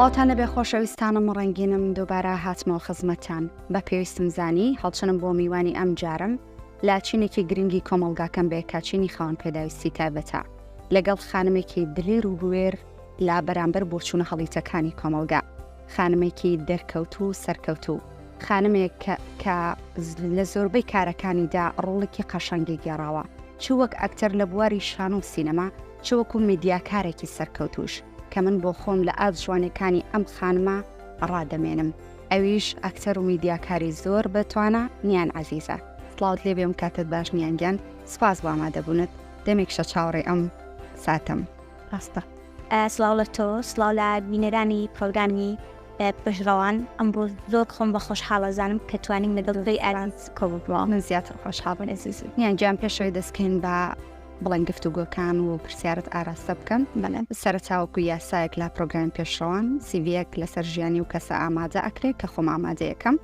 سڵاوتان لەبێ خۆشەویستانم و ڕنگینم دووبارە هاتمەوە خزمەتان بە پێویستم زانی هەڵچنم بۆ میوانی ئەم جارم لا چینێکی گرنگی کۆمەلگاکەم بێ کاچینی خاوەن پێداویستی تایبەتە لەگەڵ خانمێکی دلیر و بوێر لە بەرامبەر بۆچوونە هەڵیتەکانی کۆمەڵگا، خانمێکی دەرکەوتوو و سەرکەوتوو، خانمێک کە لە زۆربەی کارەکانیدا ڕۆڵێکی قەشەنگی گێڕاوە، چ وەک ئەکتەر لە بواری شانۆ و سینەما، چ وەکوو میدیاکارێکی سەرکەوتووش، کە من بۆ خۆم لە ئاست جوانییەکانی ئەم خانمە ڕادەمێنم، ئەویش ئەکتەر و میدیاکاری زۆر بە توانا، نیان عەزیزە. سڵاوت لێ بێ و کاتت باش نیان گیان، سوپاس بۆ ئامادەبوونت، دەمێکشە چاوەڕێی ئەم ساتەم. ڕاستە. سڵاو لە تۆ سڵاو لە بینەرانی پڕۆگرامی پشت ڕەوان ئەمڕۆ زۆر خۆم بە خۆشحاڵ ئەزانم کە توانیم لەگەڵ زۆی ئارانس کۆبووە من زیاتر خۆشحاڵم ئێزیز یان گیان پێشەوەی دەستکەین بە بڵێن گفتوگۆکان و پرسیارت ئاراستە بکەم بەڵێ سەرچاوکو یاسایەک لە پرۆگرام پێشڕەوان سیڤەک لەسەر ژیانی و کەسە ئامادە ئەکرێت کە خۆم ئامادەیەکەم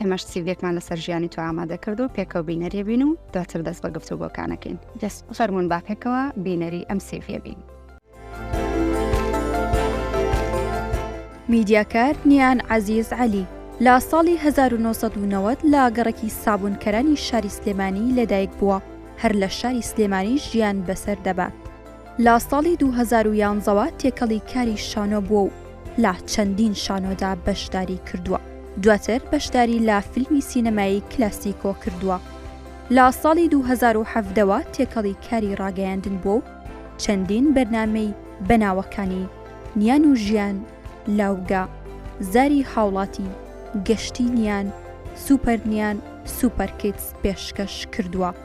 ئێمەش سیڤێکمان لەسەر ژیانی تۆ ئامادە کرد و پێکەوە بینەریە بین و دواتر دەست بە گفتو بۆکانەکەین دەست فەرمونون با پێکەوە بینەری ئەم سیڤە بین. میدیاکار نیان عزیز علی لە ساڵی 1990 لە گەڕەکی سابونکەرانی شاری سلێمانی لەدایک بووە هەر لە شاری سلێمانی ژیان بەسەر دەبات لە ساڵی دوو هەزار و یانزە وە تێکەڵی کاری شانۆ بووە و لە چەندین شانۆدا بەشداری کردووە، دواتر بەشداری لە فیلمی سینەمایی کلاسیکۆ کردووە. لە ساڵی دوو هەزار و حەڤدە وە تێکەڵی کاری ڕاگەیاندن بووە و چەندین بەرنامەی بە ناوەکانی، نیان و ژیان، لاوگە، زاری هاوڵاتی، گەشتی نیان، سوپەر نیان، سوپەر کیدز پێشکەش کردووە.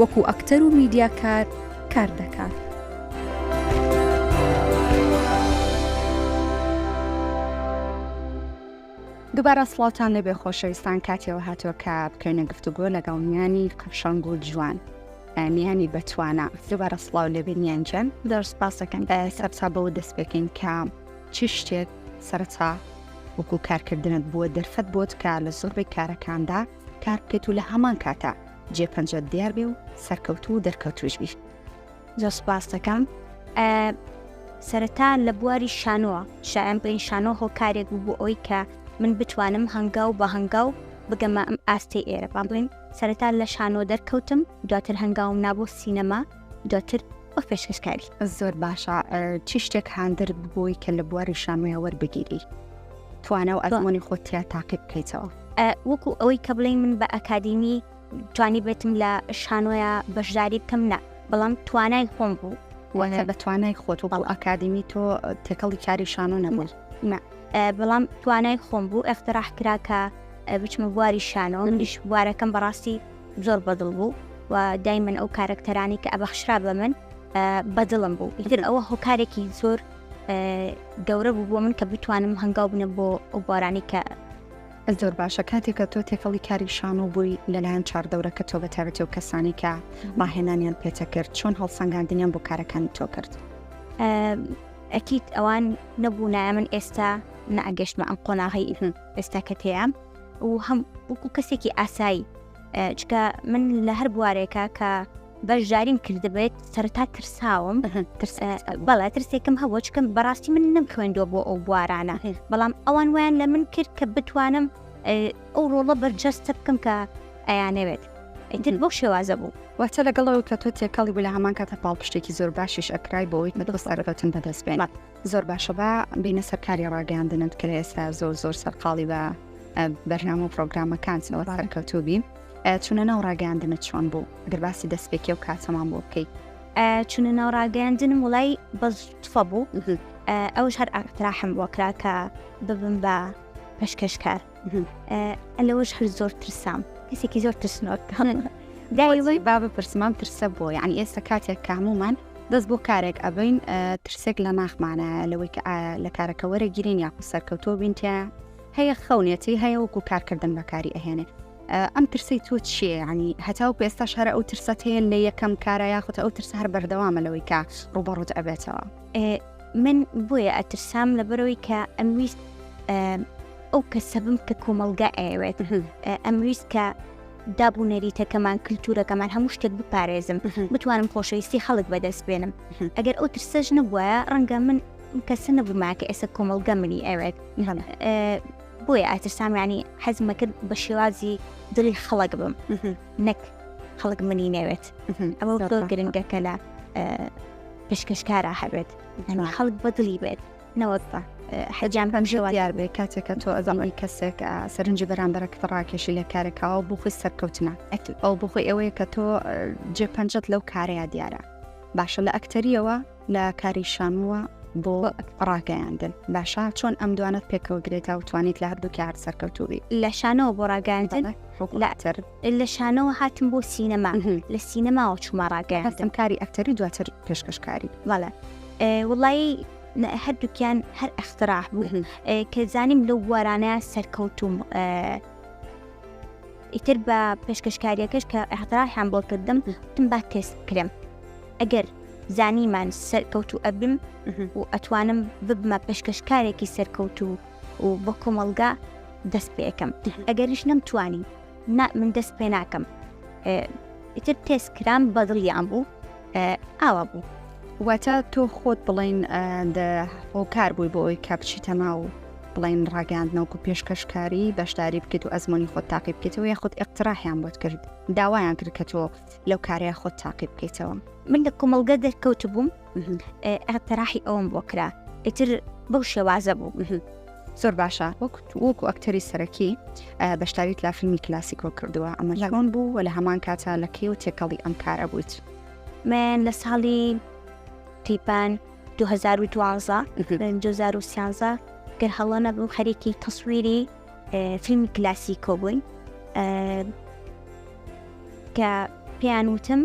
وەکو ئەکتەر و میدیاکار کار دەکات. دوبارە سڵاوتان لێبێ خۆشەویستان کاتێەوە هاتووە کە بکەینە گفتوگۆ لەگەڵ میانی قەشەنگ و جوان میانی بەتوانە دوبارە سڵاو لێبێ نیانجان دەر سپاسەکەن سەرسا بەوە دەست پێکەین کە چ شتێک سەرچا وەکو کارکردنت بووە دەرفەت بۆت کە لە زۆربەی کارەکاندا کار بکەیت و لە هەمان کاتا جێ پەنجەت دیار بێ و سەرکەوتوو و دەرکەوتوش بی زۆر سپاس دەکەم سەرەتا لە بواری شانۆوە شایان بڵین شانۆ هۆکارێک بوو بۆ ئەوی کە من بتوانم هەنگاو بە هەنگاو بگەمە ئەم ئاستی ئێرە با بڵین سەرەتا لە شانۆ دەرکەوتم دواتر هەنگاوم نابوو سینەما دواتر وەک پێشکەشکاری زۆر باشە چی شتێک هاندر ببووی کە لە بواری شانۆیە وەربگیری توانە و ئەزمۆنی خۆتیا تاقی بکەیتەوە وەکو ئەوەی کە بڵێ من بە ئەکادیمی توانی بێتم لە شانۆیە بەشداری بکەم نە بەڵام توانای خۆم بوو وەە بە توانای خۆت و بەڵ ئەکادیمی تۆ تێکەڵی کاری شانۆ نەبوو بەڵام توانای خۆم بوو ئەختراح کراکە بچمە بواری شانۆ منیش بوارەکەم بەڕاستی زۆر بەدڵ بوو و دایمەن ئەو کارەکتەرانی کە ئەبەخشرا بە من بەدڵم بوو ئیتر ئەوە هۆکارێکی زۆر گەورە بوو بۆ من کە بتوانم هەنگاو بنە بۆ ئەو بارانی کە زۆر باشە کاتێکە تۆ تێکەڵی کاری شان و بووی لەلایەن چاردەورەکە تۆ بەتابێتەوە کەسانی کە ڕاهێنانیان پێتە کرد چۆن هەڵسەنگاندنیان بۆ کارەکانی تۆ کرد ئەکییت ئەوان نەبوو نایە من ئێستا نەگەشتمە ئەم قۆناغی ئێستا کە تێام و هەم وەکو کەسێکی ئاسایی چکە من لە هەر بوارێکە کە بەشداریم کردبێت سەرتا ترساوم بەڵێ ترسێکم هەبوو چکەم بەڕاستی من نەم خوێندوە بۆ ئەو بوارانە بەڵام ئەوان ویان لە من کرد کە بتوانم ئەو ڕۆڵە بەرجەستە بکەم کە ئەیانەوێت ئیتر بۆ شێوازە بوو واتە لەگەڵەوە کە تۆ تێکەڵی بوو لە هەمان کاتە پاڵپشتێکی زۆر باشیش ئەکرای بۆ ئەویت مەدەبەسەرەتن بەدەست بێنات زۆر باشە با بینە سەرکاری ڕاگەاندنت کە لە ئێستا زۆر زۆر سەرقاڵی بە بەرنامە و پرۆگرامەکان سەوە سەرکەوتوبی چونە ناو ڕاگەاندنت چۆن بوو گەرباسی دەستپێکی و کاتەمان بۆ بکەیت چونە ناو ڕاگەاندنم وڵی بەفە بوو ئەوش هەر ئاراحم بۆ کرا کە ببم بە پشکەشکار لەوەش هەر زۆر ترسام کەسێکی زۆر ترسنۆک داوی با بپرسمام ترسە بۆ یعنی ئێستا کاتێک کامومان دەست بۆ کارێک ئەبین ترسێک لە ناخمانە لەوەی کە لە کارەکە وەرەگیرین یاخو سەرکەوتۆ بینتیا هەیە خەونێتی هەیە وەکو کارکردن بەکاری ئەهێنێ ئەم ترسی تۆ چییە ینی هەتاو پێستا شارە ئەو ترسەت هەیە لە یەکەم کارە یاخود ئەو ترسە هەر بەردەوامە لەوەی کە ڕوبەڕوت ئەبێتەوە من بۆیە ئەترسام لەبەرەوەی کە ئەمویست ئەو کەسەبم کە کۆمەلگا ئەوێت ئەمویست کە دابوو نەریتەکەمان کللتورەکەمان هەموو شتێک بپارێزم بتوانم خۆشەویستی خەڵک بەدەست بێنم ئەگەر ئەو ترسەش نەبووە ڕەنگە من کەسە نەبووما کە ئێستا کۆمەلگە منی ئەوێت بۆیە ئاترسامیانی حەزمەکرد بە شێوازی دڵی خەڵک بم. نەک خەڵک منی نەوێت ئەمە زۆر گرنگە کە لە پێشکەشکارە هەبێت هەنوو خەڵک بەدڵی بێت نەوەک بە حەجان بەم ژێوە دیار بێ کاتێکە تۆ ئەزانەوەی کەسێک سەرنجی بەرامبەرە کە ڕاکێشی لە کارێکەوە بۆ خۆی سەرکەوتنە ئەو بۆ خۆی ئەوەیە کە تۆ جێ پەنجەت لەو کارەیە دیارە باشە لە ئەکتەریەوە لە کاری شانۆوە بۆ ڕاگەیاندن باشە چۆن ئەم دوانەت پێکەوە گرێتەوە توانیت لە هەردوو کار سەرکەوتوبی لە شانەوە بۆ ڕاگەاندن لاتر لە شانەوە هاتم بۆ سینەما لە سینەماوە چوومە ڕاگەیان هەستم کاری ئەکتەری دواتر پێشکەشکاری بەڵە وڵایی هەردووکیان هەر ئەختراح بوو کە زانیم لەو بوارانە سەرکەوتوم ئیتر بە پێشکەشکاریەکەش کە ئیحتڕاحیان بۆ کردم وتم با تێست بکرێم ئەگەر زانیمان سەرکەوتو ئەبم و ئەتوانم ببمە پێشکەشکارێکی سەرکەوتو و بۆ کۆمەڵگا دەست پێەکەم ئەگەریش نەمتوانی من دەست پێ ناکەم ئیتر تێست کرام بەدڵیان بوو ئاوا بوو واتە تۆ خۆت بڵین هۆکار بووی بۆ ئەوی کە بچی تەما و بڵین ڕاگەاندنەوەکو پێشکەشکاری بەشداری بکەیت و ئەزمموی خۆت تاقی بکەیتەوە یا خودت ئەقتراحیان بۆت کرد داوایان کرد کە تۆ لەو کارەیە خۆت تاقی بکەیتەوە من لە کۆمەلگە دەرکەوت بووم ئەتەراحی ئەوم بۆ کرا ئیتر بەو شێوازە بوو زۆر باشە وەک وەکو ئەکتەری سەرەکی بەشداریت لە فیلمی کلاسیکۆ کردووە ئەمە لەڕۆن بوو و لە هەمان کاتە لە کێ و تێکەڵی ئەم کارە بوویت من لە ساڵی تیپان 2012 گەر هەڵە نەبوو خەرێکی تەسویری فیلمی کلاسیکۆ بووین کە پێیان وتم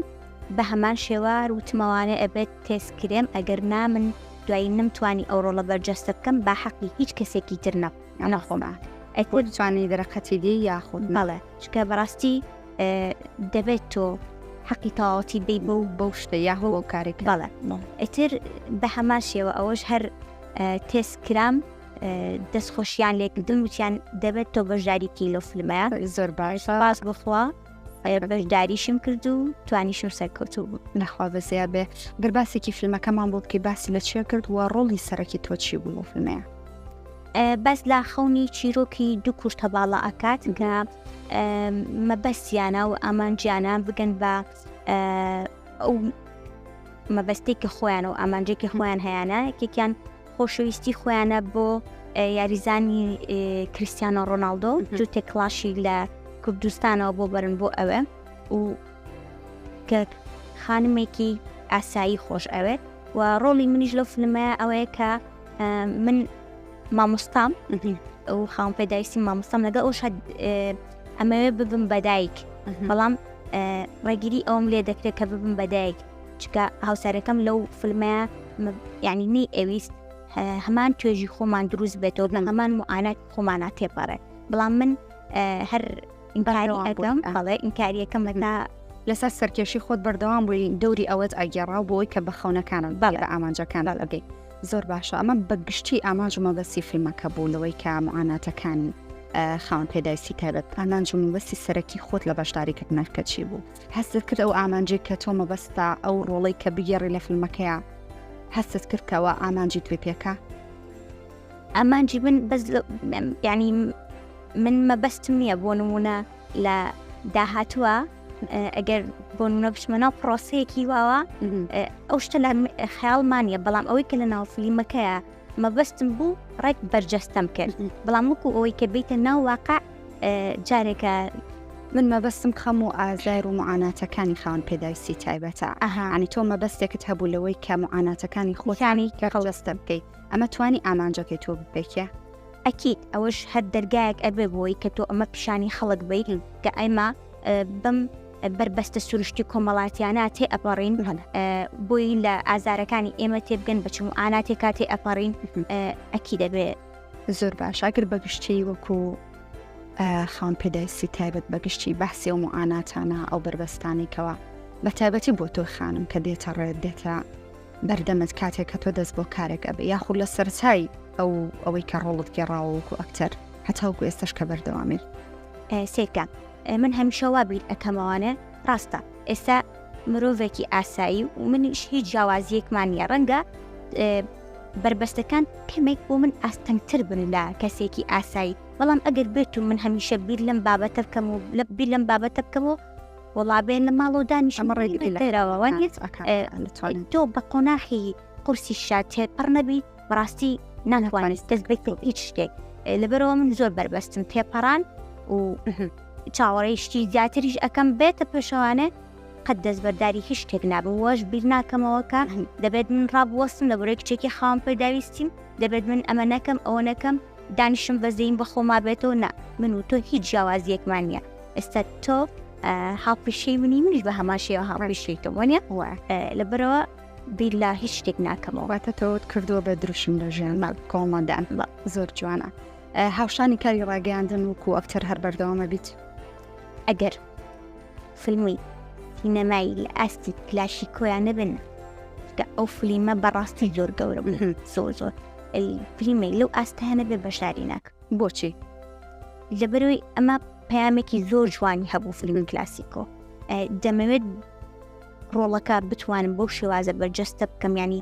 بە هەمان شێوە وتمەوانە ئەبێت تێسکرێم ئەگەر نامن دوایی نەم توانی ئەو ڕۆڵە بەرجەستە بکەم با حەقی هیچ کەسێکی تر نە ئەنا خۆما ئەیکۆ توانی دەرەقەتی دی یاخود بەڵێ چکە بەڕاستی دەبێت تۆ حەقی تەواوەتی بی بە و بەو شتە یاهۆ ئەو کارێک بەڵێ ئەتر بە هەمان شێوە ئەوەش هەر تێس کرام دەستخۆشیان لێکردن وتیان دەبێت تۆ بەشداریکی لەو فلمەیە زۆر باش باس بخوا بەشداریشم کرد و توانیشم سەرکەوتوو بوو نەخوا بەزیا بێ گەر باسێکی فیلمەکەمان بۆ بکەی باسی لە چێ کرد و ڕۆڵی سەرەکی تۆچی بوو فیلمەیە بەس لا خەونی چیرۆکی دوو کوشتە باڵا ئەکات کە مەبەستیانە و ئامانجیانە بگەن بە ئەو مەبەستێکی خۆیان و ئامانجێکی خۆیان هەیەە یەکێکیان خۆشەویستی خۆیانە بۆ یاریزانی کریسیانۆ ڕۆناالدۆ جوتێک کلاشی لە کوردستانەوە بۆ بەرن بۆ ئەوێ و کە خانمێکی ئاسایی خۆش ئەوێت و ڕۆڵی منیش لەو فلمەیە ئەوەیە کە من مامۆستام ئەو خاون پێداویستی مامۆستام لەگە ئەو شاد ئەمەوێ ببم بەدایک بەڵام ڕێگیری ئەوم لێ دەکرێت کە ببم بەدایک چکە هاوسەرەکەم لەو فلمەیە یعنی نەی ئەویست هەمان توێژی خۆمان دروست بێتەوە لە هەمان معانات خۆمانە تێپەڕێت بەڵام من هەر ئینبارانی ئەگەم بەڵێ ئینکاریەکەم لەنا لەسەر سەرکێشی خۆت بەردەوام بووی دەوری ئەوەت ئەگەڕا بۆی کە بە خەونەکانم باڵ لە ئامانجەکان ئەگەیت زۆر باشە ئەمە بە گشتی ئامانج و مەبەسی فیلمەکە بوو لەوەی کە معاناتەکانی خاون پێدایسی تایبەت ئامانج و مەبەسی سەرەکی خۆت لە بەشداریکردنەکە چی بوو هەستت کرد ئەو ئامانجەی کە تۆ مەبەستتە ئەو ڕۆڵەی کە بگێڕی لە فلمەکەیا هەستت کرد کەوا ئامانجی توێ پێکە ئامانجی من بەس ینی من مەبەستم نییە بۆ نمونە لە داهاتووە ئەگەر بۆ نمونە بچمە ناو پرۆسەیەکی واوە ئەو شتە لە خیاڵمانە بەڵام ئەوەی کە لە ناو فلیمەکەیە مەبەستم بوو ڕێک بەرجەستەم کرد بەڵام وەکو ئەوەی کە بیتە ناو واقع جارێکە من مەبەستم خەم و ئازار و معاناتەکانی خاون پێداویستی تایبەتە ئەهانی تۆ مەبەستێکت هەبوو لەوەی کە معاناتەکانی خۆتانی کەڕڵستە بکەیت ئەمە توانی ئامانجەکەی تۆ بپێکە ئەکییت ئەوەش هەر دەرگایەک ئەبێ بۆی کە تۆ ئەمە پیشانی خەڵک بیرن کە ئەمە بەم بەربەستە سروشتی کۆمەڵاتیانە تێ ئەپەڕین بۆی لە ئازارەکانی ئێمە تێبگەن بچم و ئانا تێکا تێ ئەپەڕین ئەکی دەبێت زۆر باش ئەگر بەگشتی وەکو خاون پێداویستی تایبەت بەگشتی بەحسی و معاناتانە ئەو بەربەستانێکەوە بە تایبەتی بۆ تۆ خانم کە دێتە ڕێت دێتە بەردەمت کاتێک کە تۆ دەست بۆ کارێک ئەبێ یاخود لە سەرچای ئەو ئەوەی کە ڕۆڵت گێڕاوە وەکو ئەکتەر هەتاوکو ئێستش کە بەردەوامێت سێکە من هەمیشە وا بیر ئەەکەمەوانێ ڕاستە ئێستا مرۆڤێکی ئاسایی و منیش هیچ جیاوازیەکمان نیە ڕەنگە بربەستەکان کەمێک بۆ من ئاستەنگتر بن لە کەسێکی ئاسایی بەڵام ئەگەر بێت و من هەمیشە بیر لەم بابەتە بکەم و لە بیر لەم بابەتە بکەمەوە وەڵا بێن لە ماڵۆ دانیش ئەمە ڕێ لەێراوەوە تۆ بە قۆناحی قورسی شاتێ پڕ نەبی بڕاستی نانوانیت دەست بێت هیچ شتێک لەبەرەوە من زۆر بەربەستم تێپەڕان و چاوەڕێشتی زیاتریش ئەەکەم بێتە پێشەوانێ قەت دەستبەرداری هیچ شتێک نابم وەش بیر ناکەمەوەکە دەبێت من ڕابوەستم لە بۆرەی کچێکی خاوم پێداویستیم دەبێت من ئەمە نەکەم ئەوە نەکەم دانیشم بەزەین بەخۆما بێتەوە نا من و تۆ هیچ جیاوازیەکمان نیە ئێستا تۆ هاوپیشەی منی منیش بە هەمان شێوە هاوپیشەی تۆ وەنیە لەبەرەوە بیلا هیچ شتێک ناکەمەوە واتە تۆت کردووە بە دروشم لە ژیان مەڵ کۆمەدان بە زۆر جوانە هاوشانی کاری ڕاگەیاندن وکو ئەکتەر هەر بەردەوامە بیت ئەگەر فیلمی سینەمایی لە ئاستی کلاشی کۆیان نەبن کە ئەو فلیمە بەڕاستی زۆر گەورە زۆر زۆر فلیمێک لەو ئاستانە بێ بەشداری ناکە بۆچی؟ لەبەرەوەی ئەمە پەیامێکی زۆر جوانی هەبوو فیلمی کلاسیکۆ دەمەوێت ڕۆڵەکە بتوانم بۆ شێوازە بەرجەستە بکەم ینی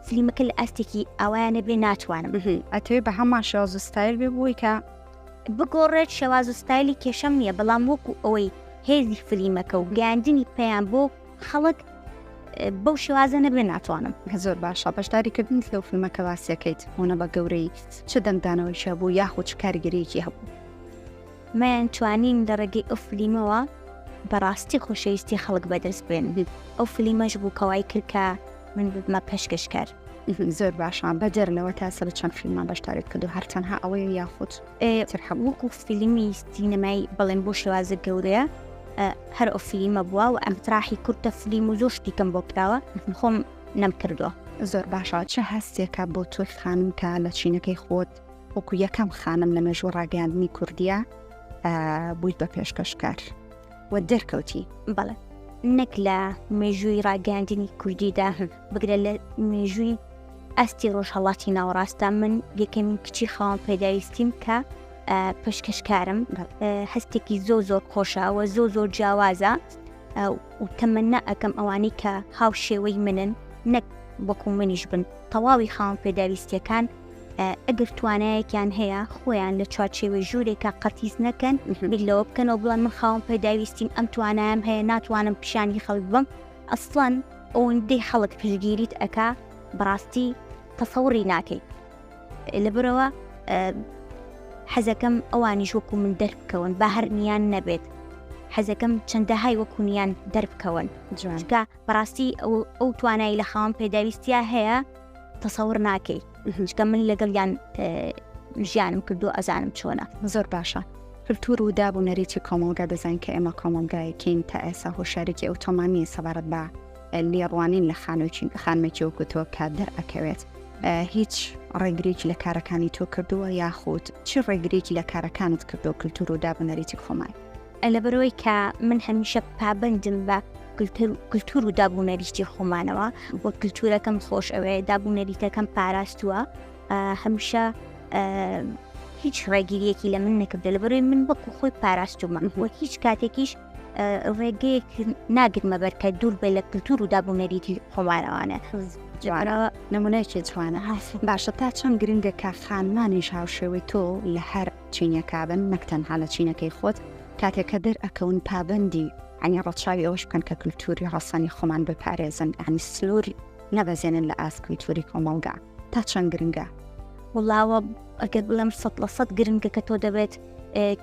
فلیمەکە لە ئاستێکی ئەوانە بێ ناتوانم ئەتوێ بە هەمان شێواز و ستایل بێ بووی کە بگۆڕێت شێواز و ستایلی کێشەم نییە بەڵام وەکو ئەوەی هێزی فلیمەکە و گەاندنی پێیان بۆ خەڵک بەو شێوازە نەبێ ناتوانم کە زۆر باشە بەشداری کردنیت لەو فیلمەکە باسیەکەیت هۆنە بە گەورەی چ دەنگدانەوەیشە بوو یاخود چ کارگەرێکی هەبوو مەیان توانین لە ڕێگەی ئەو فلیمەوە بەڕاستی خۆشەویستی خەڵک بەدەست بێن ئەو فلیمەش بوو کەوای کردکە من بمە پێشکەشکار زۆر باشە بەجەر لەوە تا سەر چەند فیلمان بەشدارێت کردو هەرچەندها ئەوەیە یاخود وەکو فیلمی سینەمای بەڵێن بۆ شێوازە گەورەیە هەر ئەو فلیمە بووە و ئەم تراحی کورتە فلیم و زۆر شتیکەم بۆ کراوە خۆم نەم کردووە زۆر باشە چه هەستێکە بۆ تۆی خانم کە لە چینەکەی خۆت وەکو یەکەم خانم لە مێژوو ڕاگەاندنی کوردیە بوویت بە پێشکەشکار. و دەرکەوتی بەڵێ نەک لە مێژووی ڕاگەاندنی کوردیدا بگرە لە مێژووی ئەستی ڕۆژهڵاتی ناوەڕاستە من یەکەمین کچی خاوەن پێداویستیم کە پشکەشکارم هەستێکی زۆ زۆر خۆشەوە زۆ زۆر جیاوازە و تەمەنا ئەەکەم ئەوانی کە هاو شێوەی منن نەک بەکو منیش بن تەواوی خاوەن پێداویستیەکان ئەگەر توانایەکیان هەیە خۆیان لە چوارچێوەی ژوورێکە قەتیس نەکەن بیر لەوە بکەنەوە بڵێن من خاوم پێداویستیم ئەم توانایم هەیە ناتوانم پیشانی خەڵک بم ئەسڵەن ئەوەندەی خەڵک پشگیریت ئەکا بڕاستی تەسەوڕی ناکەیت لەبرەوە حەزەکەم ئەوانیش وەکو من دەربکەون با هەرنیان نەبێت حەزەکەم چەندەهای وەکوونیان دەربکەون جوانکە بەڕاستی ئەو توانای لە خاوەن پێداویستیا هەیە تەسەور ناکەی چکە من لەگەڵ یان ژیانم کردو ئەزانم چۆنە زۆر باشە کللتور و داب و نەریتی کۆمەڵگا دەزان کە ئێمە کۆمەڵگایەکەین تا ئێسا هۆشارێکی ئەوتۆمانیە سەبارەت بە لێڕوانین لە خانۆکی خانمێکی وەکوتۆ کە دەرئەکەوێت هیچ ڕێگرێکی لە کارەکانی تۆ کردووە یاخود چی ڕێگرێکی لە کارەکانت کردو کللتور و داب و نەریتی خۆمان لەبەرەوەی کە من هەمیشە پابندم بە کللتور و دابوو نەریشتی خۆمانەوە وە کللتورەکەم خۆش ئەوێ دابوو نەریتەکەم پاراستووە هەمیشە هیچ ڕێگیریەکی لە من نەکردە لە بەروی من بەکو خۆی پاراستومەم وە هیچ کاتێکیش ڕێگەیەک ناگرمە بەرکە دوور بێ لە کللتور و دابوونەریتی خۆمارەوانە جوانەوە نمونەیەکی جوانە هاسی باشە تا چەند گرنگە کە خانمانیش هاوشێوەی تۆ لە هەر چینەکابن نەک تەنها لە چینەکەی خۆت کاتێک کە دەر ئەکەون پابندی ئەنی ڕەچاوی ئەوش بکەن کە کللتوری ڕەسەنی خۆمان بپارێزن ئەنی سنوور نەبەزێنن لە ئاست کللتوری کۆمەڵگا تا چەند گرنگە وڵاوە ئەگەر بڵم سە لە سەد گرنگە کە تۆ دەبێت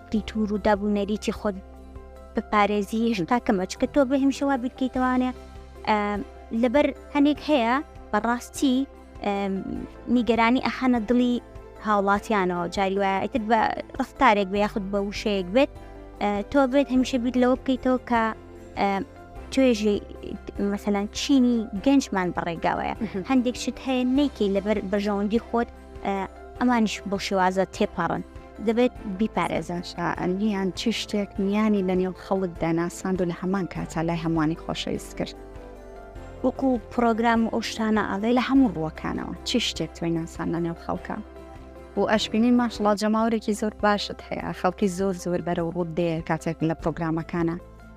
کللتور و دابوونەریتی خۆت بپارێزی هێشتا کەمە چکە تۆ بە هەمشەوا بیرکەیتەوانێ لەبەر هەنێک هەیە بەڕاستی نیگەرانی ئەخەنە دڵی هاوڵاتیانەوە جاری وایە ئەتر بە ڕفتارێک بە یاخود بە وشەیەک بێت تۆ بێت هەمیشە بیت لەوە بکەیتەوە کە توێژی مەسەلاەن چینی گەنجمان بەڕێگاوەیە هەندێک شت هەیە نیکی لەبەر بەژەوەندی خۆت ئەمانش بۆ شێوازە تێپەڕن دەبێت بیپارێزن شائەنیان چی شتێک میانی لە نێو خەڵکدا ناساند و لە هەمان کاتا لای هەمووانی خۆشەویست کرد وەکو پڕۆگرام و ئەو شتانە ئەڵێ لە هەموو ڕووەکانەوە چی شتێک تۆی ناسان لە نێو خەڵکە و ئەشبینین ماشڵا جەماورێکی زۆر باشت هەیە خەڵکی زۆر زۆر بەرە و ڕوود دێ کاتێک لە پرۆگرامەکانە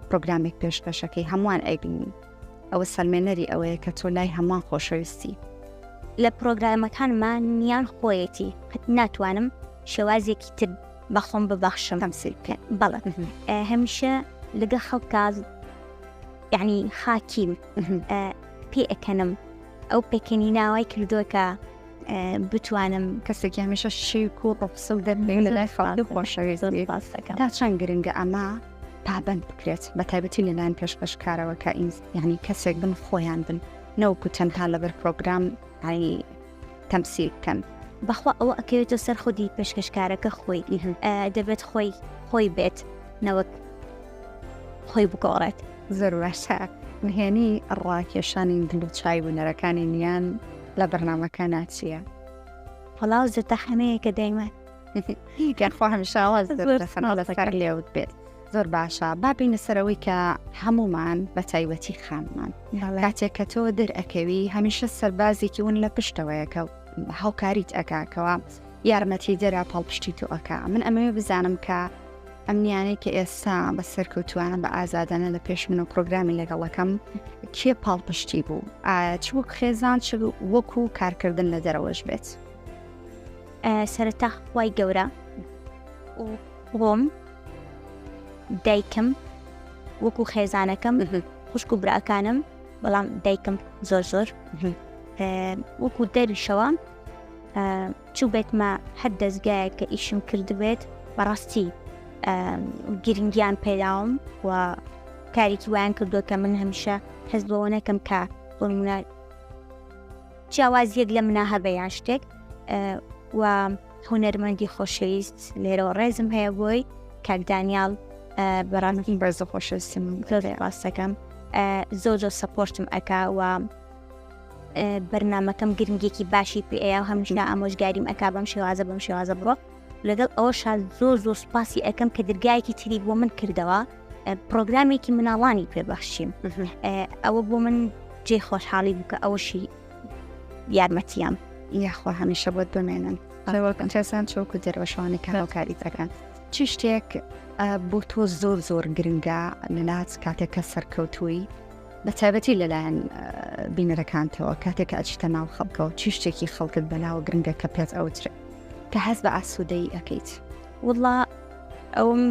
پرۆگرامێک پێشکەشەکەی هەمووان ئەیبینین ئەوە سەلمێنەری ئەوەیە کە تۆ لای هەمان خۆشەویستی لە پرۆگرامەکانمان نیان خۆیەتی قەت ناتوانم شێوازێکی تر بەخۆم ببەخشم هەمسیل بکەن بەڵێ هەمیشە لەگە خەڵکاز یەعنی خاکیم پێ ئەکەنم ئەو پێکەنی ناوای کردووە کە بتوانم کەسێک هەمیشە شیک و ڕۆپسە و دەربێ لە لای خەڵکی خۆشەوێت تا چەند گرنگە ئەمە پابند بکرێت بە تایبەتی لەلایەن پێشکەشکارەوە کە ئینس یعنی کەسێک بن خۆیان بن نەوەکو تەنها لەبەر پرۆگرام ئای تەمسیل بکەن. بەخوا ئەوە ئەکەوێتە سەر خودی پێشکەشکارەکە خۆی دەبێت خۆی خۆی بێت نەوەک خۆی بگۆڕێت زۆر باشە نهێنی ڕاکێشانی دل و چای بوونەرەکانی نیان لە بەرنمەکە ناچیە فڵاو زەتە حەمەیە کە دەیمە هیگەن خۆ هەمیشاواز لێوت بێت زۆر باشە با بینە سەرەوەی کە هەمومان بە تایبەتی خانمان کاتێک کە تۆ دەرئەکەوی هەمیشە سەربازێکی ون لە پشتەوەیەکە هاوکاریت ئەکاکەوە یارمەتی دەرا پاڵپشتی تۆ ئەکا من ئەمەوێ بزانم کە ئەمنیانەی کە ئێستا بە سەرکەوتوانە بە ئازادانە لە پێش من و پرۆگرامی لەگەڵەکەم کێ پاڵپشتی بوو ئایا چ وەک خێزان چ وەکو کارکردن لە دەرەوەش بێت سەرتا وای گەورە خۆم، دایکم، وەکو خێزانەکەم، خوشک و براکانم، بەڵام دایکم زۆر زۆر وەکو دەریشەوە چوو بێتمە هەر دەستگایە کە ئیشم کردبێت بەڕاستی گرنگیان پێداوم و کارێکی وایان کردووە کە من هەمیشە هەز بەوە نەکەم کە بۆمونە جیاواز یەک لە منە هەبێ یان شتێک و هونەرمەندی خۆشەویست لێرەوە ڕێزم هەیە بۆی کاک دانیال بەڕاستی بەرز خۆشەویستم زۆرێ ڕاستەکەم زۆر زۆر سەپۆرتم ئەکا و بەرنمەکەم گرنگێکی باشی پێەیە هەمشنا ئامۆژگاریم ئەک بەم شێوازە بەم شێوازە بڕۆ لەگەڵ ئەوە شاد زۆر زۆر سوپاسی ئەەکەم کە درگایەکی تری بۆ من کردەوە پرۆگرامێکی مناڵانی پێبەخشیم ئەوە بۆ من جێ خۆشحاڵی بکە ئەوەشی یارمەتیان یاخوا هەمیشە بۆت بمێنن ڕێوەکەن کەسان چۆک و دەروەشوانی کارەکاری دەکەن چ شتێک بۆ تۆ زۆر زۆر گرنگە لە ناز کاتێک کە سەرکەوتووی بە تایبەتی لەلایەن بینەرەکانتەوە کاتێک کە ئەچیتە ناو خەڵکەوە چی شتێکی خەڵکت بەلاوە گرنگە کە پێت ئەوتر کە هەست بە ئاسوودەی ئەەکەیت وڵا ئەوم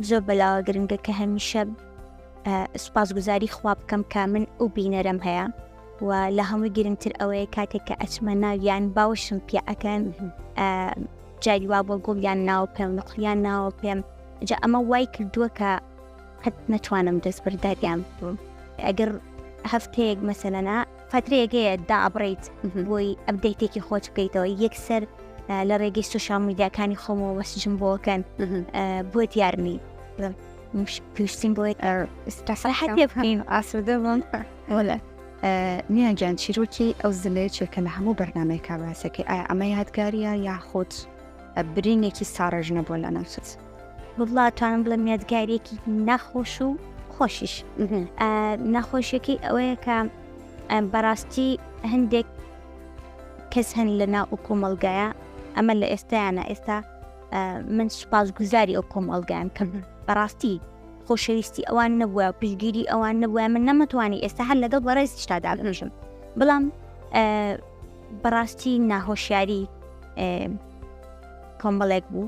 زۆر بەلاوە گرنگە کە هەمیشە سوپاسگوزاری خوا بکەم کە من ئەو بینەرم هەیە و لە هەمووی گرنگتر ئەوەیە کاتێک کە ئەچمە ناویان باوشم پێ ئەەکەن جاری وا بۆ گوڵیان ناو پێم نقلیان ناوە پێم جا ئەمە وای کردووە کە قەت نەتوانم دەست بەرداریان بووم ئەگەر هەفتەیەک مەسەلەنا فترەیەگەیە دابڕیت بۆی ئەبدەیتێکی خۆت بکەیتەوە یەکسەر لە ڕێگەی سوشال میدیاکانی خۆمەوە وەسجم بۆکەن بۆ دیارنی پشتیم بۆی سەحەتێ بکەین ئاسوودە بووم وەلە نیان گیان چیرۆکی ئەو زلەیە چێکە لە هەموو بەرنمەی کاباسەکەی ئایا ئەمە یادگاریە یاخود برینێکی ساڕژ نەبووە لە نەفت وڵاتوانم بڵێ یادگارێکی نەخۆش و خۆشیش نەخۆشیەکەی ئەوەیە کە بەڕاستی هەندێک کەس هەن لە ناو و کۆمەلگایە ئەمە لە ئێستایانە ئێستا من سوپاسگوزاری ئەو کۆمەڵگایم کە بەڕاستی خۆشەویستی ئەوان نەبووە پشگیری ئەوان نەبووە من نەمەتوانی ئێستا هەر لەگەڵ بەڕێزیشتا دابنژم بەڵام بەڕاستی ناهۆشیاری کۆمەڵێک بوو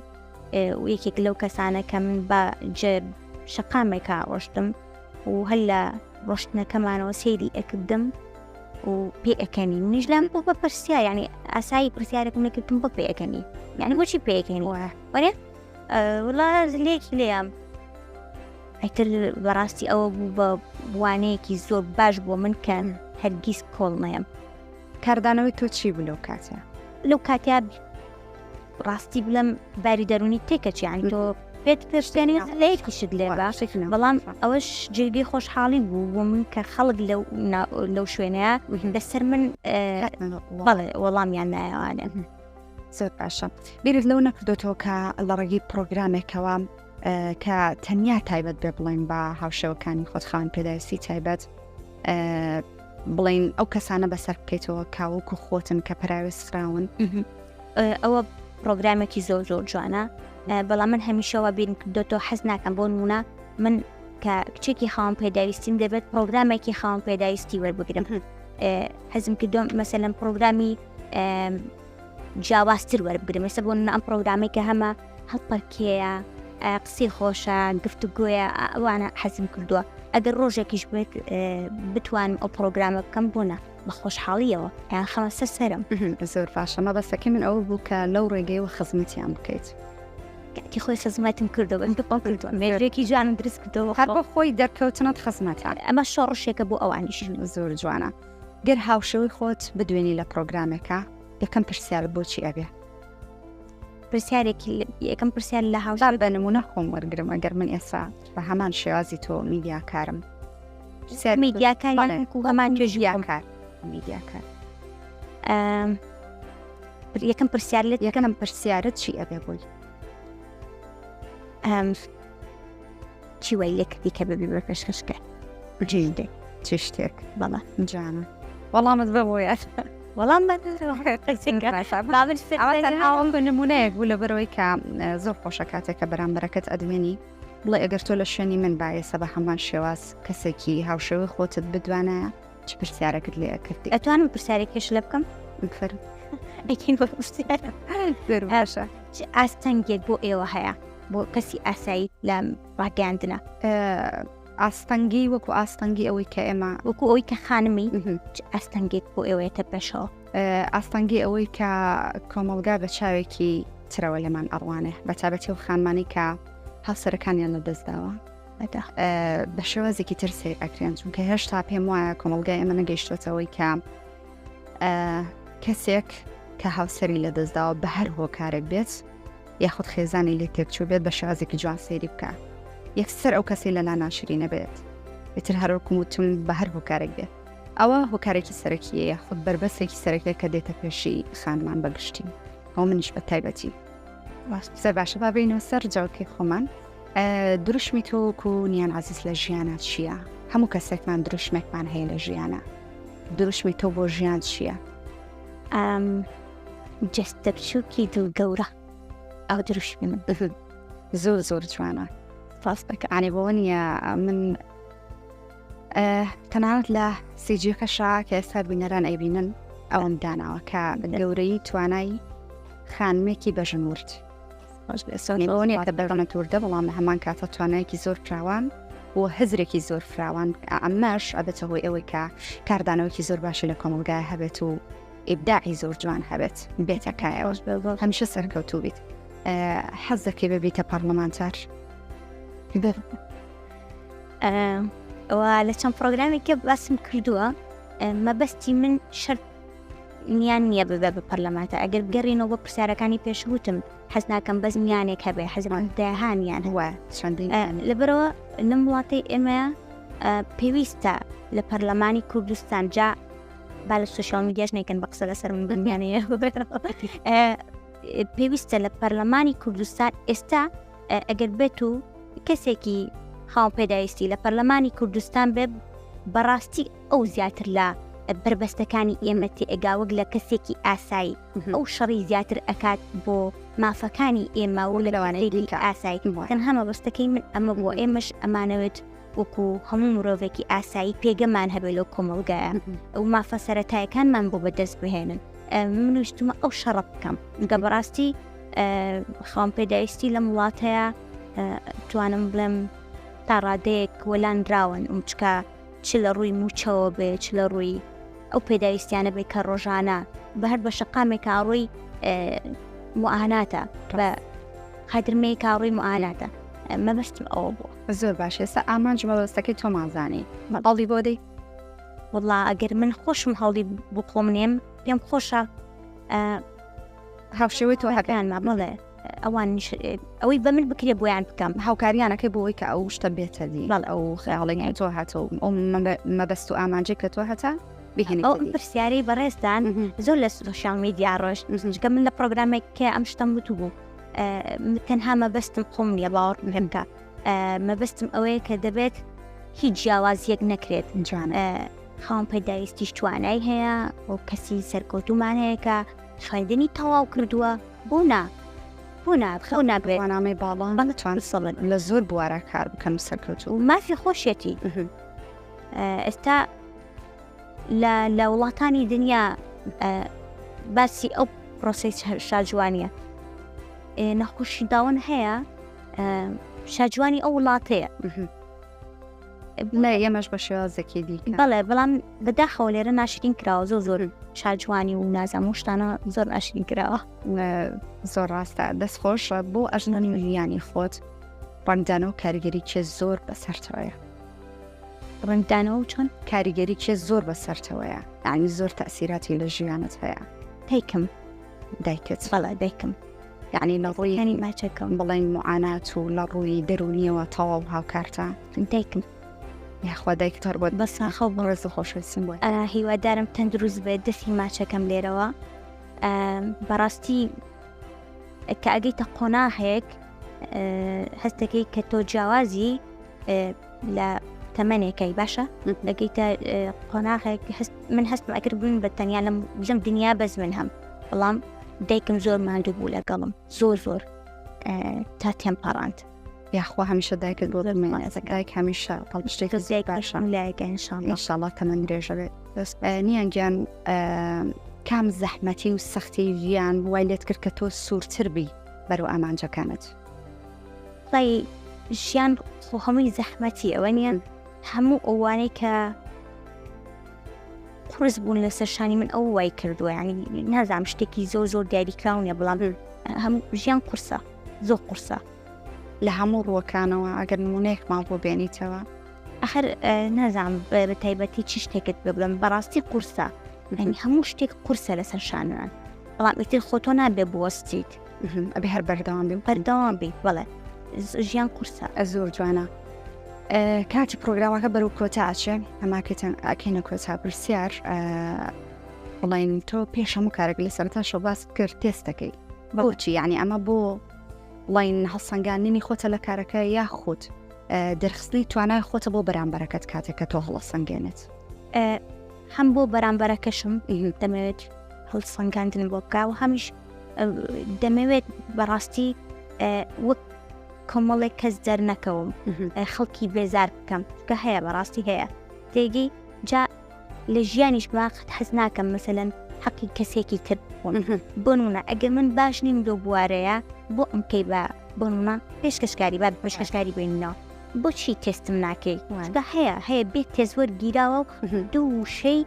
یەکێک لەو کەسانە کە من بە شقامێکا ڕۆشتم و هەر لە ڕۆشتنەکەمانەوە سەیری ئەکردم و پێ ئەەکەنی منیش لام بۆ بە پرسیا یعنی ئاسایی پرسیارێکم نەکردم بۆ پێ ئەەکەنی یعنی بۆچی پێکەین وە وەێ وڵا لێکی لێیان ئەتر بەڕاستی ئەوە بوو بە وانەیەکی زۆر باش بۆ من کە هەرگیز کۆڵ نەیەم کاردانەوەی تۆ چی بوو لەو کاتە لەو کاتیا ڕاستی بلم باری دەرونی تێکەچ یان تۆ پێت پێشێنی لەیەکی شت لێ باشێکن بەڵام ئەوەش جێگەی خۆشحاڵی بوو بۆ من کە خەڵک لەو لەو شوێنەیە لەسەر من بەڵێ وەڵامیان نایوانێ زۆر باشە بیرت لەو نەکردۆتەوە کە لە ڕێگەی پرۆگرامێکەوە کە تەنیا تایبەت بێ بڵێن بە هاوشەوەکانی خۆتخان پێداویستی تایبەت بڵێین ئەو کەسانە بەسەر بکەیتەوە کاوەکو خۆتن کە پراوێز خراون ئەوە پرۆگرامێکی زۆر زۆر جوانە بەڵام من هەمیشەوە بین کردۆتەوە حەز ناکەم بۆ نمونە من کە کچێکی خاوم پێداویستیم دەبێت پرۆگرامێکی خاوم پێداویستی وەربگرم حەزم کردۆم مەسەلم پرۆگرامی جیاوازتر وەربگرم ێستا بۆ ئەم پرۆگرامێکە هەمە هەڵپەرکێیە، قسەی خۆشە، گفتوگۆیە، ئەوانە حەزم کردووە. ئەگەر ڕۆژێکیش بێت بتوانم ئەو پرۆگرامە بکەم بۆ نە بە خۆشحاڵیەوە یان خەمە سەر سەرم زۆر باشەمە بەسەکە من ئەوە بوو کە لەو ڕێگەیەوە خزمەتیان بکەیت. کاتی خۆی خزمەتم کردەوە من بەپڵ کردووە مێژێکی جوانم دروست کردەوە هەر بۆ خۆی دەرکەوتنت خزمەتان ئەمە شۆڕشێکە بۆ ئەوانیش زۆر جوانە گەر هاوشەوەی خۆت بدوێنی لە پرۆگرامێکە یەکەم پرسیار بۆچی ئەبێ پرسیارێکی یەکەم پرسیار لە هاوشان بە نمونە خۆم وەرگرم ئەگەر من ئێستا بە هەمان شێوازی تۆ میدیاکارم میدیاکار هەمان توێژیاکار میدیاکار یەکەم پرسیار لە یەکەم پرسیارت چی ئەبێ بووی چی وای لێ کردی کە ببی بە پێشکەشکە جیدێ چ شتێک بەڵە جانە وەڵامت بە بۆ یاش وەڵام نمونەیەک بوو لە بەرەوەی کە زۆر خۆشە کاتێکە بەرامبەرەکەت ئەدمێنی بڵێ ئەگەر تۆ لە شوێنی من باێسە بە هەمان شێواز کەسێکی هاوشێوەی خۆتت بدوانە چ پرسیارەکت لێ ئەکردی ئەتوانم پرسیارێکیش لە بکەم بفەرم ئەکین بە پرسیارە زۆر باشە چ ئاستەنگێک بۆ ئێوە هەیە بۆ کەسی ئاسایی لە ڕاگەاندنە ئاستەنگی وەکو ئاستەنگی ئەوەی کە ئێمە وەکو ئەوی کە خانمی چ ئاستەنگێک بۆ ئێوەیەتە پێشەوە ئاستەنگی ئەوەی کە کۆمەلگا بە چاوێکی ترەوە لەمان ئەڕوانێ بە تابەتی و خانمانی کە هاوسەرەکانیان لە دەستداوە بە شێوازێکی تر سیر ئەکرێن چونکە هێشتا پێم وایە کۆمەلگای ئەمە نەگەیشتوەتەوەی کە کەسێک کە هاوسری لە دەستداوە بە هەر هۆکارێک بێت یاخود خێزانی لێ تێکچوو بێت بە شازێکی جوان سەیری بکە یەکسەر ئەو کەسی لەلا ناشری نەبێت ئیتر هەرۆکم وتم بە هەر هۆکارێک بێت ئەوە هۆکارێکی سەرەکیە یاخود بربەسێکی سەرەکێک کە دێتە پێشی خانمان بەگشتی ئەو منیش بە تایبەتی سەر باشە بابینەوە سەر جاوکی خۆمان دروشمی تۆ وەکو نیان عزیز لە ژیانە چییە؟ هەموو کەسێکمان دروشمێکمان هەیە لە ژیانە دروشمی تۆ بۆ ژیان چییە؟ ئەم جستە بچووکی دڵ گەورە ئەو دروشمی من زۆر زۆر جوانە ڕاستەکەانێ بۆ نییە من تەنانەت لە سیجیەکەشا کە ئێستا بینەران ئەیبینن ئەوم داناوە کە گەورەی توانای خانمێکی بەژن ورد ئەوەنیە کە دەڕەنە تووردە بەڵام لە هەمان کاتە توانایەکی زۆر فراوان و هزرێکی زۆر فراوان ئەمەش ئەبێتە هۆی ئەوەی کە کاردانەوەکی زۆر باشی لە کۆمەلگای هەبێت و ئیبداعی زۆر جوان هەبێت بێتەکایەوە هەمیشە سەرکەوتوو بیت حەز دەکەی ببیتە پەرلەمانتار ئەوە لە چەند پرۆگرامێکە باسم کردووە مەبەستی من شەر میان نییە ببێ بە پەرلەمانتە ئەگەر بگەڕینەوە بۆ پرسیارەکانی پێشوتم حەز ناکەم بەس میانێک هەبێ حەزمان داهانیان هەوە لەبەرەوە لەم وڵاتی ئێمە پێویستە لە پەرلەمانی کوردستان جا با لە سوشال میدیاش نەکەن بە قسە لەسەر من بمیانەیە پێویستە لە پەرلەمانی کوردستان ئێستا ئەگەر بێت و کەسێکی خاو پێداویستی لە پەرلەمانی کوردستان بێ بەڕاستی ئەو زیاتر لە بەربەستەکانی ئێمە تێئەگا وەک لە کەسێکی ئاسایی ئەو شەڕی زیاتر ئەکات بۆ مافەکانی ئێمە و لەوانەیە ئاسایی تەنها مەبەستەکەی من ئەمە بۆ ئێمەش ئەمانەوێت وەکو هەموو مرۆڤێکی ئاسایی پێگەمان هەبێت لەو کۆمەڵگایە ئەو مافە سەتایەکانمان بۆ بەدەست بهێنن منویستمە ئەو شەڕە بکەم گە بەڕاستی خاوم پێداویستی لەم وڵاتەیە توانم بڵێم تا ڕادەیەک وەلاندراون ئەم چکە چ لە ڕووی مووچەوە بێ، چ لە ڕووی ئەو پێداویستیانە بێ کە ڕۆژانە بە هەر بە شەقامێک کاڕووی معاناتە بە خەدرمەی کاڕووی معاناتە مەبەستم ئەوە بوو. زۆر باش ئێستا ئامانج مەبەستەکەی تۆمان زانی هەڵی بۆ دەی وڵا ئەگەر من خۆشم هەڵی بۆ خۆم نێم پێم خۆشە هاوشێوەی تۆ هەکەیان مامەڵێ ئەوانیش ئەوەی بە من بکرێ بۆیان بکەم هاوکاریانەکەی بۆی کە ئەو شتە بێتە دی بەڵ ئەو خەیاڵێنی تۆ هاتە و ئەو مەبەست و ئامانجێک کە تۆ هەتا ئەو پرسیارەی بەڕێزدان زۆر لە سوشال میدیا ڕۆژ نزنجکە من لە پرۆگرامێک کە ئەم شتم وتو بوو تەنها مەبەستم خۆم نیە باوەڕ پێمکە مەبەستم ئەوەیە کە دەبێت هیچ جیاوازیەک نەکرێت جوانە خاوم پەداویستیش توانای هەیە و کەسی سەرکەوتومان هەیە کە خوێندنی تەواو کردووە بۆ نا بۆ نا خەو نابێت بەنامەی باڵا بەڵە چوان سەڵن لە زۆر بوارە کار بکەم سەرکەوت و مافی خۆشیەتی ئێستا لە وڵاتانی دنیا باسی ئەو پرۆسی شاجوانیە نەخۆشی داون هەیە شاجوانی ئەو وڵاتەیە بڵێ ئێمەش بە شێوازێکی دی بەڵێ بەڵام بەداخەوە لێرە ناشرین کراوە زۆر زۆر شاجوانی و نازەم و شتانە زۆر ناشرین کراوە زۆر ڕاستە دەست خۆش بۆ ئەژنانی ویانی خۆت ڕنگدان و کاریگەری کێ زۆر بەسەرتەوەە ڕنگدانەوە و چۆن کاریگەری کێ زۆر بەسەرتەوەە ئاوی زۆر تاسیراتی لە ژیانت هەیە دایکم دایکت بەڵا دایکم یعنی لە ڕووی یعنی ماچەکەم بڵێن معانات و لە ڕووی دەرونیەوە تەواو هاوکارتە دایکم یاخوا دایک تەر بۆت بە ساخە و بەڕێز خۆشویستم بۆ هیوادارم تەندروست بێت دەسی ماچەکەم لێرەوە بەڕاستی کە ئەگەیتە قۆناهێک هەستەکەی کە تۆ جیاوازی لە تەمەنێکەی باشە دەگەیتە قۆناغێک من هەستم ئەکرد بوون بە تەنیا لەم لەم دنیا بەس من هەم بەڵام دایکم زۆر ماندوو بوو لەگەڵم زۆر زۆر تا تێم پاڕاند یاخوا هەمیشە دایکت بۆ دەمێنێتەکایک هەمیشە هەڵشتێک زیای باشە لایگەنشانشاڵە تەمەند درێژە بێت نیان گیان کام زەحمەتی و سەختی ژیان وای لێت کرد کە تۆ سوورتر بی بەرەو ئامانجەکانت سەی ژیان خۆ هەمووی زەحمەتی ئەوە نیە هەموو ئەوانەی کە قرس بوون لەسەر شانی من ئەو وای کردووە ینی نازام شتێکی زۆر زۆر دیاریکراونە بڵام هەم ژیان قرسە زۆر قرسە لە هەموو ڕووەکانەوە ئەگەر نمونەیەک ماڵ بۆ بێنیتەوە ئەخر نازام بە تایبەتی چی شتێکت ببڵم بەڕاستی قورسە هەموو شتێک قورسە لەسەر شانوان بەڵام ئیتر خۆتۆ نابێ بوەستیت ئەبێ هەر بەردەوام بین بەردەوام بین بەڵێ ژیان قورسە زۆر جوانە کاتی پرۆگرامەکە بەرەو کۆتا ئاچێ ئەماکەتان ئاکەینە کۆتا پرسیار بڵین تۆ پێش هەموو کارێک لە سەرتا شەباست کرد تێست دەکەیت بەوچی یعنی ئەمە بۆ بڵین هەڵسەنگاننی خۆتە لە کارەکە یاخود دەرخستنی توانای خۆتە بۆ بەرامبەرەکەت کاتێککە تۆ هەڵسەنگێنێت هەم بۆ بەرامبەرەکەشم دەمەوێت هەڵسەنگاندن بۆ بکە و هەمیش دەمەوێت بەڕاستی وەک کۆمەڵێک کەس دەرنەکەوم خەڵکی بێزار بکەم کە هەیە بەڕاستی هەیە تێگەی جا لە ژیانیش باخت حەز ناکەم مثلەن حەقی کەسێکی تر بۆنمونە ئەگەر من باش نیم لۆ بوارەیە بۆ ئەم کەی بە بۆنمە پێشکەشکاری با پێشکەشکاری بینەوە بۆچی تێستم ناکەی هەیە هەیە بێت تێزوەەر گیراوە و دوو وشەی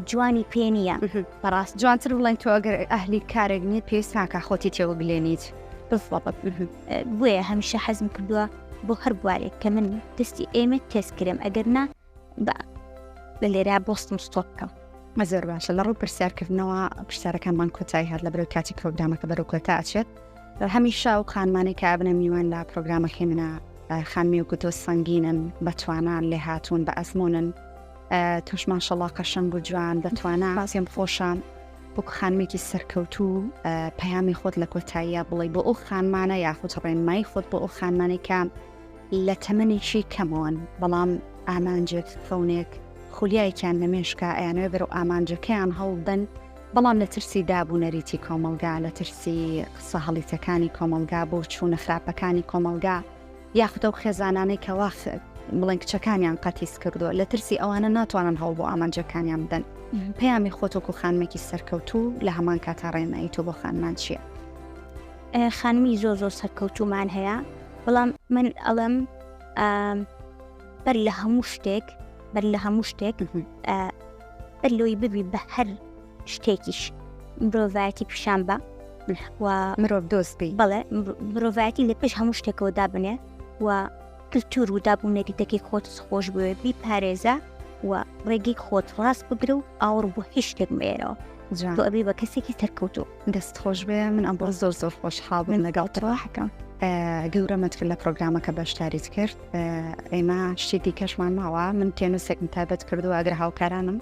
جوانی پێ نییە بەڕاست جوانتر بڵێن تۆ ئەگەر ئەهلی کارێک نیت پێویست ناکە خۆتی تێوە بلێنیت بۆیە هەمیشە حەزم کردووە بۆ هەر بوارێک کە من دەستی ئێمە تێز کرم ئەگەر نا بە لە لێرا بۆستم ستۆپ بکەم مەزۆر باشە لە ڕوو پرسیارکردنەوە پرسیارەکانمان کۆتایی هات لە بەرەو کاتی پرۆگرامەکە بەرەو کۆتا ئەچێت هەمیشا و خانمانێک کە ئابنە میوان لە پرۆگرامەکەی منە خانمی و گوتۆ سەنگینن بەتوانان لێ هاتوون بە ئەزمونن تۆش ماشەڵا قەشەنگ و جوان بە توانا پێم خۆشە وەکو خانمێکی سەرکەوتو و پەیامی خۆت لە کۆتاییە بڵی بۆ ئەو خانمانە یاخود ڕێنمای خۆت بۆ ئەو خانمانەی کە لە تەمەێکی کەمەوەن بەڵام ئامانجێک فەونێک خولیایەکیان نەمێشکە ئەیانەوە بەرە و ئامانجەکەیان هەڵدەن بەڵام لە ترسی داب و نەریتی کۆمەلگا لە ترسی قسە هەڵیتەکانی کۆمەلگا بۆ چوونە خراپەکانی کۆمەلگا یاخود ئەو خێزانانەی کە وا بڵێن کچەکانیان قەتیس کردووە لە ترسی ئەوانە ناتوانن هەوڵ بۆ ئامانجەکانیان بدەن پەیامی خۆتۆکو خانمێکی سەرکەوتوو لە هەمان کاتا ڕێنمایی تۆ بۆ خانمان چییە؟ خانمی زۆر زۆر سەرکەوتومان هەیە بەڵام من ئەڵم بەر لە هەموو شتێک بەر لە هەموو شتێک بەر لۆی ببی بە هەر شتێکیش مرۆڤایەتی پیشان بە و مرۆڤ دۆست بی بەڵێ مرۆڤایەتی لە پێش هەموو شتێکەوە دابنێ و کللتور و دابوو نەریتەکەی خۆت خۆش بوێ بی پارێزە و ڕێگەی خۆت ڕاست بگرە و ئاوڕ بۆ هیچ شتێک مێرەوە ئەبی بە کەسێکی سەرکەوتو دەست خۆش بێ من ئەم بۆ زۆر زۆر خۆش حاڵ من لەگەڵ تڕاحەکەم گەورەمەت کرد لە پرۆگرامەکە بەشداریت کرد ئێمە شتی دیکەشمان ماوە من تێنووسێکم تابەت کردو ئەگەر هاوکارانم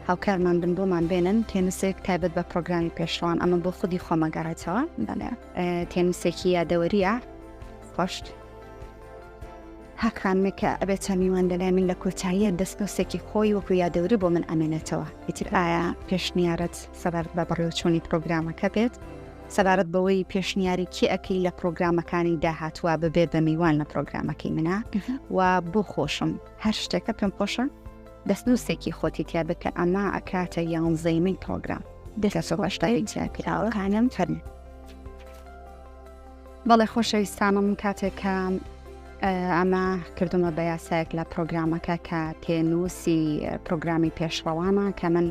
هاوکارمان بن بۆمان بێنن تێنسێک تایبەت بە پرۆگرامی پێشڕوان ئەمە بۆ خودی خۆمەگەڕێتەوە بەێ تێنسێکی یادەوەریە خۆشت هەکانمێکە ئەبێت چامیوان لەلای من لە کۆتاییە دەستنووسێکی خۆی وەکو یادەوری بۆ من ئەمێنێتەوە ئیتر ئایا پێشنیارەت سەبارەت بە بەڕێوچوونی پرۆگرامەکە بێت سەبارەت بەوەی پێشنیاری کێ ئەەکەی لە پرۆگرامەکانی داهاتوە ببێت بە میوان لە پرۆگرامەکەی منە و بۆ خۆشم هەر شتێکە پێم خۆشە دەستنوسێکی خۆتی تیا بکە ئەما ئەکاتە یانزەیمەی پرۆگرام دەسەڕشتاکانم فەرمی بەڵێ خۆشەویستانم کاتێکم ئەمە کردومە بە یاسایەک لە پرۆگرامەکە کە تێنووسی پرۆگرامی پێشڕەوانە کە من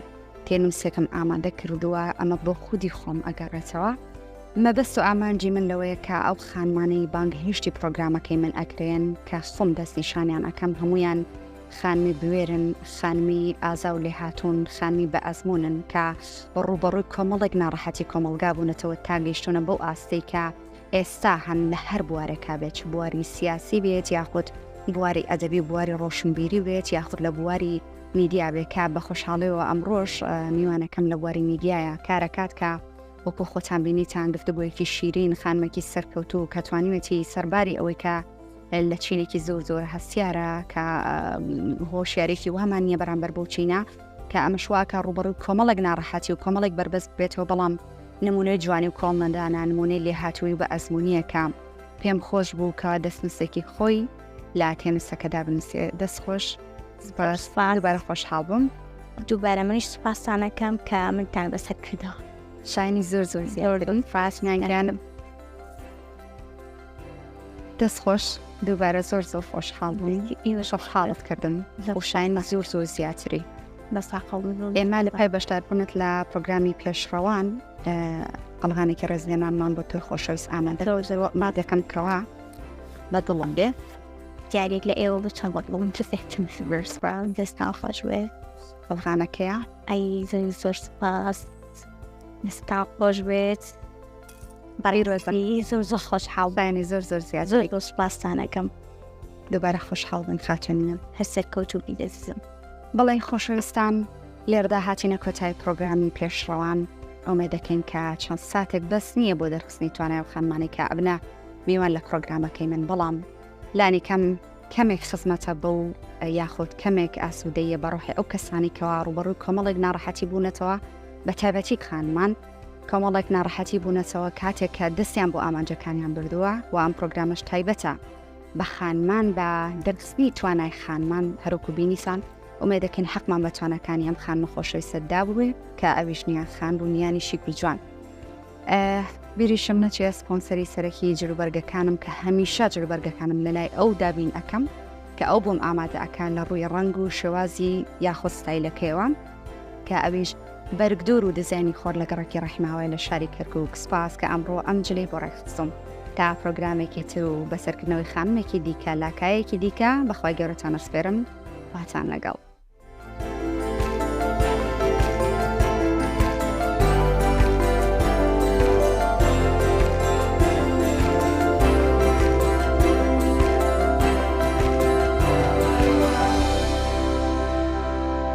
تێنووسێکم ئامادە کردووە ئەمە بۆ خودی خۆم ئەگەڕێتەوە مەبەست و ئامانجی من لەوەیە کە ئەو خانمانەی بانگهێشتی پرۆگرامەکەی من ئەکرێن کە خۆم دەستنیشانیان ئەەکەم هەمویان خانمی بوێرن، خانمی ئازا و لێهاتوون، خانمی بە ئەزمونن کە ڕووبەڕووی کۆمەڵێک ناڕەحەتی کۆمەڵگا بوونەتەوە تا گەیشتونە بەو ئاستەی کە ئێستا هەن لە هەر بوارێکا بێت چ بواری سیاسی بێت یاخود بواری ئەدەبی و بواری ڕۆشنبیری بێت یاخود لە بواری میدیا بێت کە بە خۆشحاڵیەوە ئەمڕۆش میوانەکەم لە بواری میدیایە کارەکات کە وەکو خۆتان بینیتان گفتگویەکی شیرین خانمێکی سەرکەوتوو کە توانیوێتی سەرباری ئەوەی کە لە چینێکی زۆر زۆر هەستیارە کە هۆشیارێکی وامان نییە بەرامبەر بۆ چینە کە ئەمەشواکە ڕوبڕوی کۆمەڵک ناڕەحەتی و کۆمەڵێک بەربەست بێتەوە بەڵام نمونەی جوانی و کۆڵنەدانە نمونەی لێهاتووی بە ئەزمونیەکە پێم خۆش بوو کە دەستنووسێکی خۆی لا تێنسەکەدا بنووسێ دەست خۆش بەرە خۆشحاڵ بووم دووبارە منیش سوپاسانەکەم کە منتان بەسەر کردەوە شانی زۆر زۆر زیاوردن فاسنیانگرانم دەست خۆش دووبارە زۆر زۆر خۆشحاڵ بووین ئیوەش خاڵت کردن لە خۆشاین زۆر زۆر زیاتری ئێمە لە پای بەشداربوونت لە پرۆگرامی پێشڕەوان ئەڵغانێکی ڕێزلێمانمان بۆ تۆی خۆشەویست ئامادە ما دەکەم کەوا بە دڵم بێ دیارێک لە ئێوە بە چەند بڵم تفێتم دەستا خۆش وێ ئەڵغانەکەیە ئەی زۆر سپاس دەستا خۆش بێت بەڕی ڕۆزی زۆر زۆر خۆش حاڵبانی زۆر زۆر زیاد زۆر بۆ سپاستانەکەم دوبارە خۆشحاڵبن خاتونیان هەر سەرکەوت و بیدەزیزم بەڵێ خۆشەویستان لێردا هاتینە کۆتای پرۆگرامی پێشڕەوان ئەومێ دەکەین کە چەند ساتێک بەس نییە بۆ دەرخستنی توانای و خانمانی کە ئەبنا میوان لە پرۆگرامەکەی من بەڵام لانی کەم کەمێک خزمەتە بە و یاخود کەمێک ئاسوودەیە بەڕۆحی ئەو کەسانی کەوا ڕوبەڕووی کۆمەڵێک ناڕەحەتی بوونەتەوە بە تایبەتی خانمان کۆمەڵێک ناڕەحەتی بوونەتەوە کاتێک کە دەستیان بۆ ئامانجەکانیان بردووە و ئەم پرۆگرامەش تایبەتە بە خانمان بە دەرخستنی توانای خانمان هەروکو بینیسان ئومێ دەکەین حەقمان بە توانەکانی ئەم خانمە خۆشەوی سەددا بووێ کە ئەویش نیان خان بوو نیانیشی کوجوان بیریشم نەچێ سپۆنسەری سەرەکی جلوبەرگەکانم کە هەمیشە جلوبەرگەکانم لەلای ئەو دابین ئەەکەم کە ئەو بۆم ئامادە ئەکان لە ڕووی ڕنگ و شێوازی یاخۆستایلەکەیەوە کە ئەویش بەرگدوور و دیزاینی خۆر لە گەڕەکی ڕەحماوەیە لە شاری کەرکووک، سپاس کە ئەمڕۆ ئەم جلەی بۆ ڕێکخستووم تا پرۆگرامێکی تر و بە سەرکردنەوەی خانمێکی دیکە لە کایەیەکی دیکە، بە خوای گەورەتان ئەسپێرم، خواتان لەگەڵ.